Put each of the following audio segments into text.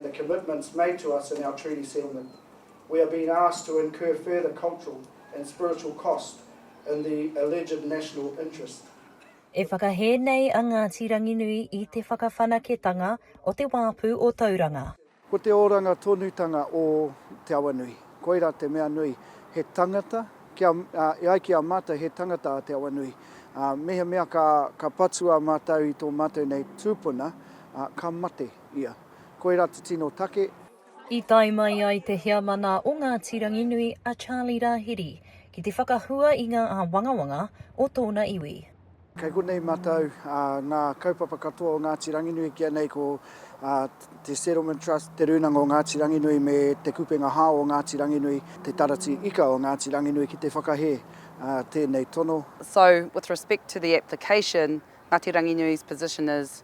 the commitments made to us in our treaty settlement, we are being asked to incur further cultural and spiritual cost in the alleged national interest. E whakahē nei a Ngāti Ranginui i te whakawhanaketanga o te wāpu o Tauranga. Ko te oranga tonutanga o Te Awanui, koirā te mea nui, he tangata, kia, e ai ki a mātou he tangata a Te Awanui, ā, mehemea ka, ka patua mātou i tō mātou nei tūpuna, ā, ka mate ia. Koira te tino take. I tae mai ai te heamana o Ngāti Ranginui a Charlie Rahiri ki te whakahua i ngā āwangawanga o tōna iwi. Kei konei matau ngā kaupapa katoa o Ngāti Ranginui ki a nei ko te Settlement Trust, Te Rūnanga o Ngāti Ranginui me Te Kupenga Hao o Ngāti Ranginui, Te Taratī Ika o Ngāti Ranginui ki te whakahē tēnei tono. So, with respect to the application, Ngati Ranginui's position is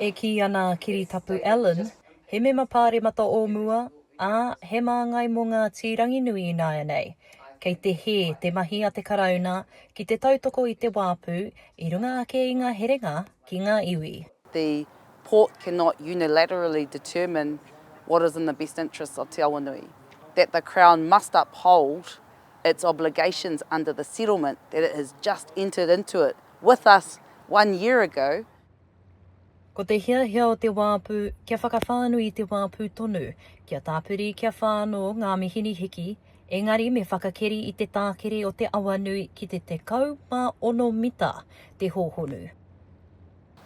E kī ana a Kiritapu Allen, he mema pāremata o mua, ā, he māngai mō Ngāti Ranginui ināianei, kei te hē te mahi a te Karauna ki te tautoko i te wāpu i runga ake i ngā herenga ki ngā iwi. The Port cannot unilaterally determine what is in the best interests of Te Awanui, that the Crown must uphold its obligations under the settlement that it has just entered into it with us one year ago, Ko te hiahia o te wāpu, kia whakawhānui i te wāpu tonu, kia tāpiri, kia whānō ngā mihini hiki, engari me whakakeri i te tākere o te awa nui ki te 16 mita te hōhonu.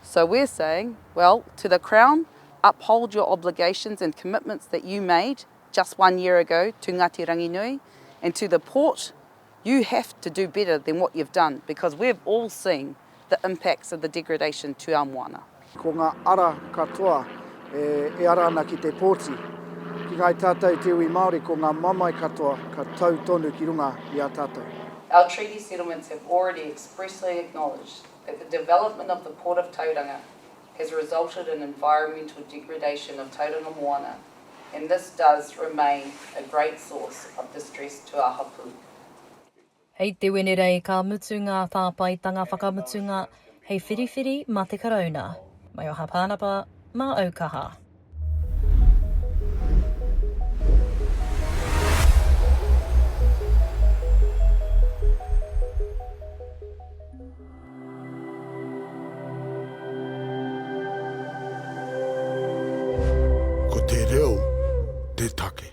So we're saying, well, to the Crown, uphold your obligations and commitments that you made just one year ago to Ngāti Ranginui, and to the Port, You have to do better than what you've done because we've all seen the impacts of the degradation to our moana. Ko ngā ara katoa e ara ana ki te pōti. Ki ngāi tātou te iwi Māori ko ngā mamae katoa ka tau tonu ki runga i a tātou. Our treaty settlements have already expressly acknowledged that the development of the Port of Tauranga has resulted in environmental degradation of Tauranga moana and this does remain a great source of distress to our hapū. Hei te Wenerei ka mutu ngā tāpaetanga whakamutunga hei whiriwhiri mā te Karauna. Mai o Hāpānapa, mā Aukaha. Ko te reo te take.